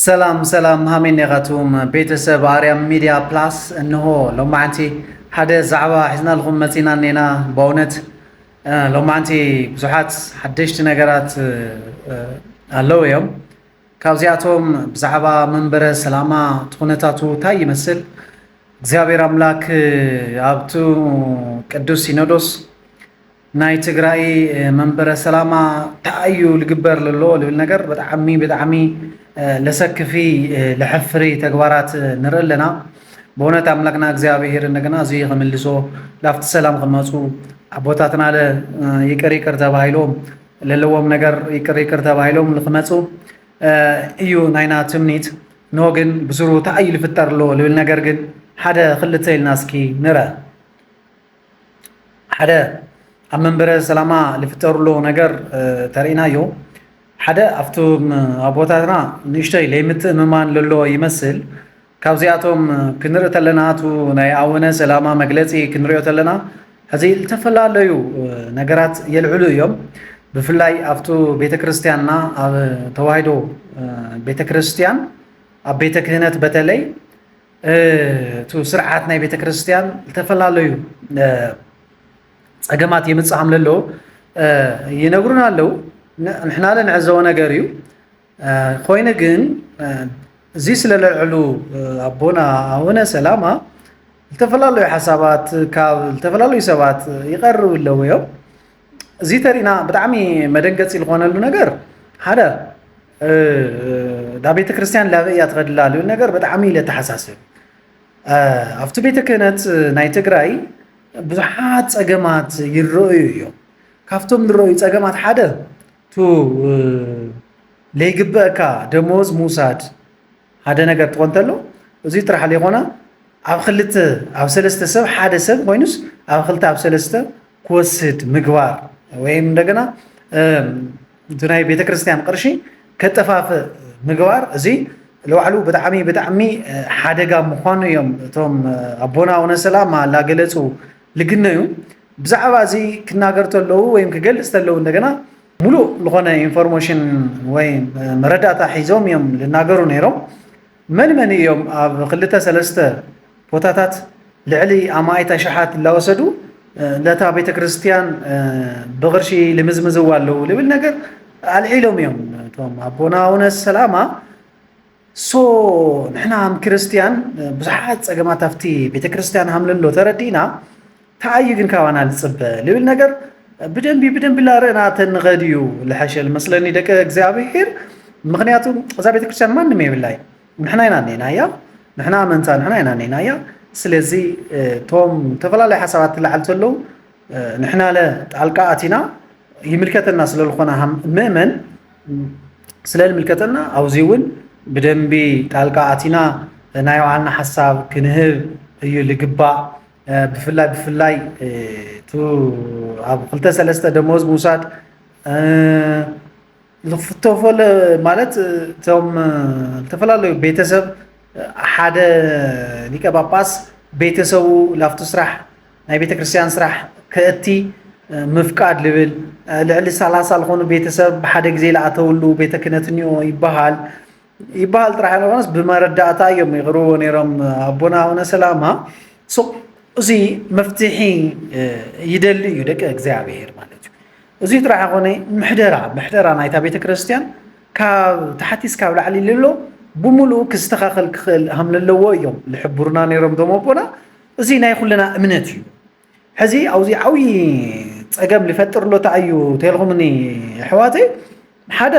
ሰላም ሰላም ሃሜኔ ኻቱም ቤተሰብ ኣርያም ሚድያ ፕላስ እንሆ ሎማዓንቲ ሓደ ዛዕባ ሒዝናልኹም መፂና እኔና በእውነት ሎማዓንቲ ብዙሓት ሓደሽቲ ነገራት ኣለው እዮም ካብዚኣቶም ብዛዕባ መንበረ ሰላማ ትኹነታቱ ታይ ይመስል እግዚኣብሔር ኣምላክ ኣብቱ ቅዱስ ሲኖዶስ ናይ ትግራይ መንበረ ሰላማ ተኣዩ ልግበር ለሎ ልብል ነገር ብጣዕሚ ብጣዕሚ ለሰክፊ ለሕፍሪ ተግባራት ንርኢ ኣለና። በእውነት ኣምላክና እግዚኣብሔር እንደገና እዚ ከመልሶ ላፍቲ ሰላም ከመፁ ኣቦታትና ለ ይቅር ይቅር ተባሂሎም ለለዎም ነገር ይቅር ይቅር ተባሂሎም ልክመፁ እዩ ናይና ትምኒት ኖ ግን ብስሩ ተኣይ ልፍጠር ኣሎ ልብል ነገር ግን ሓደ ክልተ ኢልና እስኪ ንረ ሓደ ኣብ መንበረ ሰላማ ዝፍጠርሎ ነገር ተርእናዮ ሓደ ኣብቶም ኣቦታትና ንእሽተይ ለይምትእምማን ለሎ ይመስል ካብዚኣቶም ክንርኢ ተለና እቱ ናይ ኣወነ ሰላማ መግለፂ ክንሪኦ ተለና ሕዚ ዝተፈላለዩ ነገራት የልዕሉ እዮም ብፍላይ ኣብቱ ቤተ ክርስቲያንና ኣብ ተዋሂዶ ቤተ ክርስቲያን ኣብ ቤተ ክህነት በተለይ እቲ ስርዓት ናይ ቤተ ክርስቲያን ዝተፈላለዩ ፀገማት የምፅእ ከም ዘለዎ ይነግሩና ኣለዉ። ንሕና ንዕዘቦ ነገር እዩ። ኮይኑ ግን እዚ ስለለልዕሉ ኣቦና ኣቡነ ሰላማ ዝተፈላለዩ ሓሳባት ካብ ዝተፈላለዩ ሰባት ይቐርቡ ኣለዉ እዮም። እዚ ተሪእና ብጣዕሚ መደንገፂ ዝኾነሉ ነገር ሓደ ዳ ቤተ ክርስቲያን ላበይ እያ ትኸድላ ልዩ ነገር ብጣዕሚ ኢለ ተሓሳስብ ኣብቲ ቤተ ክህነት ናይ ትግራይ ብዙሓት ፀገማት ይረአዩ እዮም ካብቶም ንረዩ ፀገማት ሓደ ቱ ለይግበእካ ደመወዝ ምውሳድ ሓደ ነገር ጥቆ እንተሎ እዙይ ጥራሕ ዘይኮነ ኣብ ክልተ ኣብ ሰለስተ ሰብ ሓደ ሰብ ኮይኑስ ኣብ ክልተ ኣብ ሰለስተ ክወስድ ምግባር ወይም እንደገና እቲ ናይ ቤተክርስትያን ቅርሺ ከጠፋፍእ ምግባር እዚ ንባዕሉ ብጣዕሚ ብጣዕሚ ሓደጋ ምዃኑ እዮም እቶም ኣቦና ውነ ሰላማ እናገለፁ ልግነዩ ብዛዕባ እዚ ክናገር ተለዉ ወይም ክገልፅ ተለዉ እንደገና ሙሉእ ልኾነ ኢንፎርሞሽን ወይ መረዳእታ ሒዞም እዮም ልናገሩ ነይሮም። መን መን እዮም ኣብ ክልተ ሰለስተ ቦታታት ልዕሊ ኣማኢት ኣሽሓት እላወሰዱ ለታ ቤተ ክርስቲያን ብቕርሺ ልምዝምዝዋ ኣለዉ ልብል ነገር ኣልዒሎም እዮም። እቶም ኣቦና ኣውነ ሰላማ ሶ ንሕና ኣም ክርስትያን ብዙሓት ጸገማት ኣብቲ ቤተ ክርስትያን ሃምለሎ ተረዲእና ተኣዩ ግን ካባና ልጽበ ልብል ነገር ብደንቢ ብደንቢ ላርእና ተንኸድ እዩ ልሐሸል መስለኒ ደቂ እግዚኣብሔር ምክንያቱ እዛ ቤተ ክርስትያን ማንም የብላይ ንሕና ኢና ኔና እያ ንሕና ኣመንታ ንሕና ኢና ኔና እያ ስለዚ እቶም ዝተፈላለዩ ሓሳባት ትላዓል ተለዉ ንሕና ለ ጣልቃ ኣቲና ይምልከተና ስለዝኾነ ምእመን ስለ ዝምልከተና ኣብዚ እውን ብደንቢ ጣልቃ ኣቲና ናይ ባዕልና ሓሳብ ክንህብ እዩ ልግባእ ብፍላይ ብፍላይ እቲ ኣብ ክልተ ሰለስተ ደሞዝ ምውሳድ ዝተፈለ ማለት እቶም ዝተፈላለዩ ቤተሰብ ሓደ ሊቀ ጳጳስ ቤተሰቡ ላፍቶ ስራሕ ናይ ቤተክርስትያን ስራሕ ከእቲ ምፍቃድ ልብል ልዕሊ ሰላሳ ዝኾኑ ቤተሰብ ብሓደ ግዜ ለኣተውሉ ቤተ ክህነት እኒኦ ይበሃል ይበሃል ጥራሕ ይኾነስ ብመረዳእታ እዮም ይቕርብዎ ነይሮም ኣቦና ኣቡነ ሰላማ እዚ መፍትሒ ይደሊ እዩ ደቂ እግዚኣብሔር ማለት እዩ እዚ ጥራሕ ኮነ ምሕደራ ምሕደራ ናይታ ቤተ ክርስቲያን ካብ ታሕቲ እስካብ ላዕሊ ልሎ ብምሉኡ ክስተኻኸል ክኽእል ሃም ለለዎ እዮም ዝሕብሩና ነይሮም ዶም ኣቦና እዚ ናይ ኩልና እምነት እዩ ሕዚ ኣብዚ ዓብዪ ፀገም ሊፈጥር ኣሎ እንታይ እዩ ተልኹምኒ ኣሕዋተይ ሓደ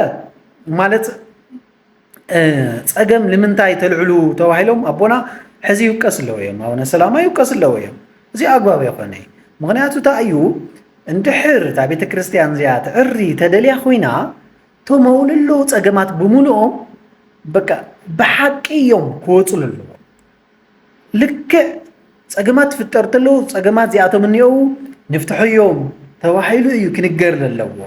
ማለት ፀገም ንምንታይ ተልዕሉ ተባሂሎም ኣቦና ሕዚ ይውቀስ ኣለዎ እዮም ኣቡነ ሰላማ ይውቀስ ኣለዎ እዮም እዚ ኣግባብ የኾነ ምክንያቱ እንታይ እዩ እንድሕር እታ ቤተ ክርስቲያን እዚኣ ትዕሪ ተደልያ ኮይና ተመውልሎ ፀገማት ብምልኦም በቃ ብሓቂ እዮም ክወፅሉ ኣለዎ ልክዕ ፀገማት ትፍጠር ተለዉ ፀገማት እዚኣቶም እኒኦዉ ንፍትሐዮም ተባሂሉ እዩ ክንገር ዘለዎ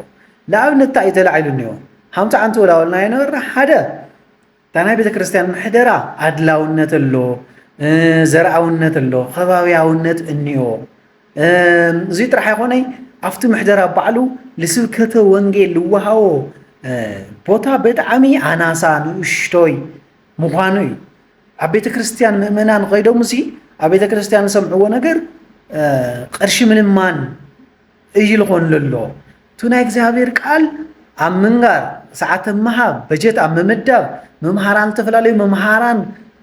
ንኣብነት እንታይ እዩ ተላዒሉ እኒኦ ሃምሳ ዓንተ ወላወልና የነበረ ሓደ እታ ናይ ቤተ ክርስቲያን ምሕደራ ኣድላውነት ኣሎ ዘርኣውነት ኣሎ ከባብያውነት እኒኦ እዚ ጥራሕ ኣይኮነይ ኣብቲ ምሕደራ ባዕሉ ልስብከተ ወንጌል ልወሃቦ ቦታ ብጣዕሚ ኣናሳ ንእሽቶይ ምዃኑ እዩ ኣብ ቤተ ክርስቲያን ምእመናን ኸይዶም እዚ ኣብ ቤተ ክርስቲያን ዝሰምዕዎ ነገር ቐርሺ ምልማን እዩ ልኾን ለሎ እቲ ናይ እግዚኣብሔር ቃል ኣብ ምንጋር ሰዓት ምሃብ በጀት ኣብ ምምዳብ መምሃራን ዝተፈላለዩ መምሃራን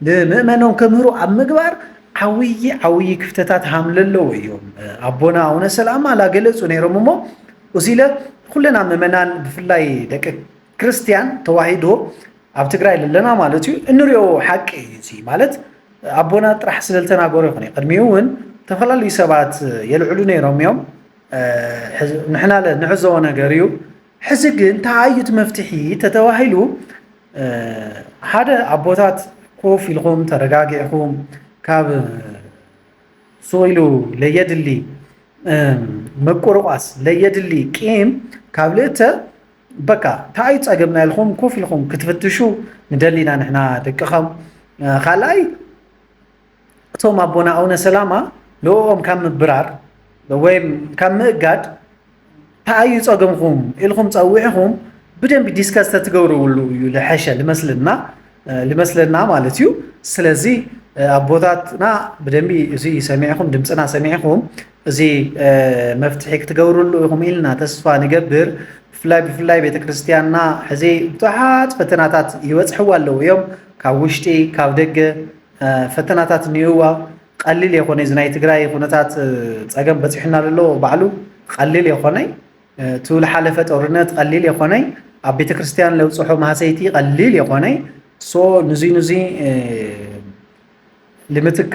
ንምእመኖም ከምህሩ ኣብ ምግባር ዓብዪ ዓብዪ ክፍተታት ሃም ለለዎ እዮም ኣቦና ኣቡነ ሰላማ ላገለፁ ነይሮም እሞ እዚለ ኩለና ምእመናን ብፍላይ ደቂ ክርስትያን ተዋሂዶ ኣብ ትግራይ ለለና ማለት እዩ እንሪኦ ሓቂ እዩ እዚ ማለት ኣቦና ጥራሕ ስለ ዝተናገሩ ይኹን ቅድሚኡ እውን ዝተፈላለዩ ሰባት የልዕሉ ነይሮም እዮም ንሕና ንዕዘቦ ነገር እዩ ሕዚ ግን ተኣዩት መፍትሒ ተተባሂሉ ሓደ ኣቦታት ኮፍ ኢልኩም ተረጋጊዕኩም ካብ ሱቕ ኢሉ ለየድሊ ምቁርቋስ ለየድሊ ቂም ካብ ልእተ በቃ ታኣይ ጸገምና ኢልኩም ኮፍ ኢልኩም ክትፍትሹ ንደሊ ኢና ንሕና ደቅኸም ካልኣይ እቶም ኣቦና ኣውነ ሰላማ ልኡኦም ካብ ምብራር ወይም ካብ ምእጋድ ተኣዩ ጸገምኹም ኢልኹም ጸዊዕኹም ብደንቢ ዲስከስ ተትገብርብሉ እዩ ልሐሸ ልመስልና ልመስለና ማለት እዩ ስለዚ ኣቦታትና ብደንቢ እዚ ሰሚዕኹም ድምፅና ሰሚዕኹም እዚ መፍትሒ ክትገብርሉ ኢኹም ኢልና ተስፋ ንገብር። ብፍላይ ብፍላይ ቤተ ክርስቲያንና ሕዚ ብዙሓት ፈተናታት ይበጽሕዋ ኣለዉ እዮም። ካብ ውሽጢ ካብ ደገ ፈተናታት እኒኡዋ። ቀሊል የኾነ እዚ ናይ ትግራይ ኩነታት ጸገም በጺሑና ዘሎ ባዕሉ ቀሊል የኾነይ እቲ ዝሓለፈ ጦርነት ቀሊል የኾነይ ኣብ ቤተ ክርስቲያን ለብጽሖ ማህሰይቲ ቀሊል የኾነይ ሶ ንዙይ ንዙይ ልምትካ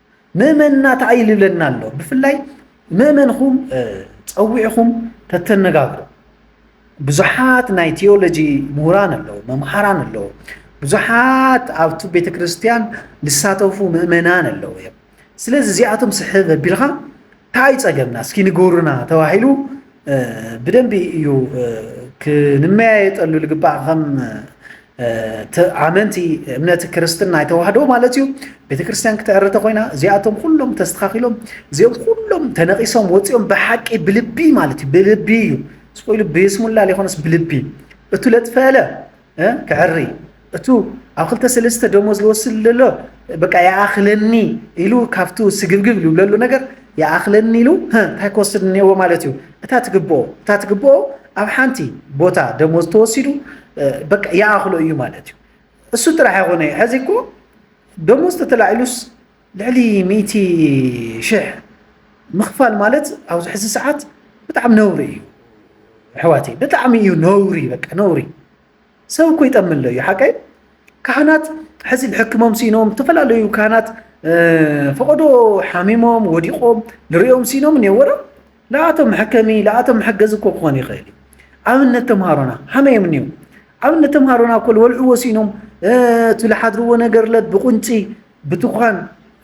መእመንና ተኣይልለና ኣሎ ብፍላይ መእመንኹም ፀዊዕኹም ተተነጋግሩ ብዙሓት ናይ ቴዎሎጂ ምሁራን ኣለዉ መምሃራን ኣለዉ ብዙሓት ኣብቲ ቤተ ክርስቲያን ዝሳተፉ ምእመናን ኣለዉ እዮም ስለዚ እዚኣቶም ስሕብ ኣቢልኻ ታይ ፀገምና እስኪ ንገሩና ተባሂሉ ብደንቢ እዩ ክንመያየጠሉ ልግባእ ከም ኣመንቲ እምነት ክርስትና ይተዋህዶ ማለት እዩ ቤተ ክርስቲያን ክትዕርተ ኮይና እዚኣቶም ኩሎም ተስተኻኺሎም እዚኦም ኩሎም ተነቂሶም ወፂኦም ብሓቂ ብልቢ ማለት እዩ ብልቢ እዩ ስቆኢሉ ብስሙላ ሊኾነስ ብልቢ እቱ ለጥፈለ ክዕሪ እቱ ኣብ ክልተ ሰለስተ ደሞዝ ዝወስድ ዘሎ በቃ ይኣኽለኒ ኢሉ ካብቱ ስግብግብ ዝብለሉ ነገር ይኣኽለኒ ኢሉ እንታይ ክወስድ እኒሄዎ ማለት እዩ እታ ትግብኦ እታ ትግብኦ ኣብ ሓንቲ ቦታ ደሞዝ ተወሲዱ በቃ ይኣኽሎ እዩ ማለት እዩ እሱ ጥራሕ ኣይኮነ ሕዚ እኮ ደሞዝ ተተላዒሉስ ልዕሊ ሚእቲ ሽሕ ምኽፋል ማለት ኣብዚ ሕዚ ሰዓት ብጣዕሚ ነውሪ እዩ ኣሕዋተይ፣ ብጣዕሚ እዩ ነውሪ፣ በቃ ነውሪ። ሰብ እኮ ይጠምለ እዩ ሓቀይ ካህናት ሕዚ ሕክሞም ሲኖም ዝተፈላለዩ ካህናት ፈቐዶ ሓሚሞም ወዲቖም ንሪኦም ሲኖም እኔወ ለኣቶም መሐከሚ ለኣቶም መሐገዚ እኮ ክኾን ይኽእል እዩ። ኣብነት ተምሃሮና ሀመይ እዮም እኒኦም? ኣብነት ተምሃሮና እኮ ልወልዕዎ ሲኖም እቲ ልሓድርዎ ነገር ለት ብቁንጪ ብትኳን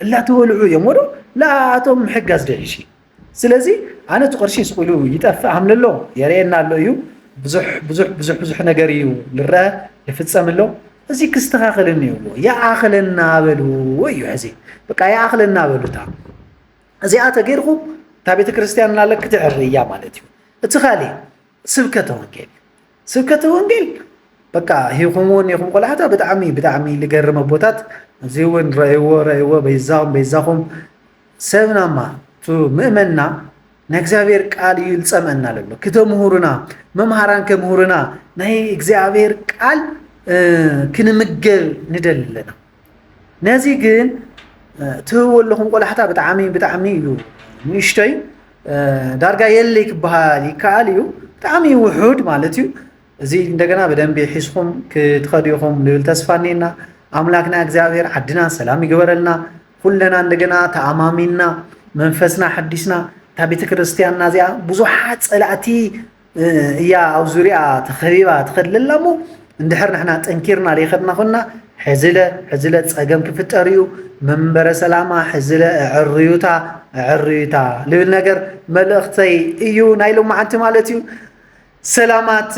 እላተወልዑ እዮም ወዶ ለኣቶም ምሕጋዝ ደልሽ ስለዚ ኣነ እቲ ቅርሺ ስቁሉ ይጠፍእ ሃምለሎ የርእየና ኣሎ እዩ ብዙሕ ብዙሕ ብዙሕ ብዙሕ ነገር እዩ ልረአ ልፍፀም ኣሎ እዚ ክስተኻኸል እኒዎ ይኣኽለና በሉ እዩ ሕዚ በቃ ይኣኽለና በሉታ እዚኣ ተገይርኹ እታ ቤተ ክርስቲያን ናለ ክትዕሪ እያ ማለት እዩ እቲ ካልእ ስብከተ ወንጌል ስብከተ ወንጌል በቃ ሂኹምዎ ኒኹም ቆላሕታ ብጣዕሚ ብጣዕሚ ልገርም ኣቦታት እዚ እውን ረእይዎ ረእይዎ በይዛኹም በይዛኹም ሰብናማ እቲ ምእመንና ናይ እግዚኣብሔር ቃል እዩ ልፀምአና ለሎ ክተምህሩና መምሃራን ከምህሩና ናይ እግዚኣብሔር ቃል ክንምገብ ንደሊ ኣለና ነዚ ግን ትህቦ ኣለኹም ቆላሕታ ብጣዕሚ ብጣዕሚ እዩ ንእሽቶይ ዳርጋ የለይ ክበሃል ይከኣል እዩ ብጣዕሚ ውሑድ ማለት እዩ እዚ እንደገና ብደንቢ ሒዝኹም ክትኸዱ ኢኹም ልብል ተስፋ እኒና ኣምላክና እግዚኣብሔር ዓድና ሰላም ይግበረልና ኩለና እንደገና ተኣማሚንና መንፈስና ሓዲስና እታ ቤተ ክርስቲያንና እዚኣ ብዙሓት ፀላእቲ እያ ኣብ ዙሪኣ ተኸቢባ ትኸድለ ኣላ እሞ እንድሕር ንሕና ጠንኪርና ዘይኸድና ኮና ሕዝለ ሕዝለ ፀገም ክፍጠር እዩ መንበረ ሰላማ ሕዝለ ዕርዩታ ዕርዩታ ልብል ነገር መልእኽተይ እዩ ናይ ሎማዓንቲ ማለት እዩ ሰላማት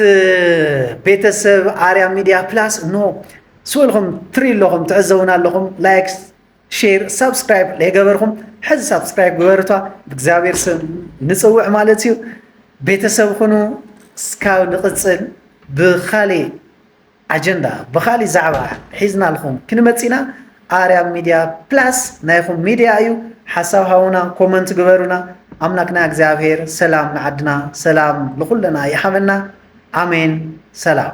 ቤተሰብ ኣርያ ሚድያ ፕላስ ኖ ስወልኹም ትርኢ ኣለኹም ትዕዘቡና ኣለኹም ላይክ ሼር ሳብስክራይብ ለይገበርኩም ሕዚ ሳብስክራይብ ግበርቷ ብእግዚኣብሔር ስም ንፅውዕ ማለት እዩ ቤተሰብ ኩኑ እስካብ ንቕፅል ብካሊእ ኣጀንዳ ብካሊእ ዛዕባ ሒዝናልኩም ክንመፅና ኣርያም ሚድያ ፕላስ ናይኹም ሚድያ እዩ ሓሳብ ሃውና ኮመንት ግበሩና ኣምላክና እግዚኣብሔር ሰላም ንዓድና ሰላም ንኩለና ይሓበና ኣሜን ሰላም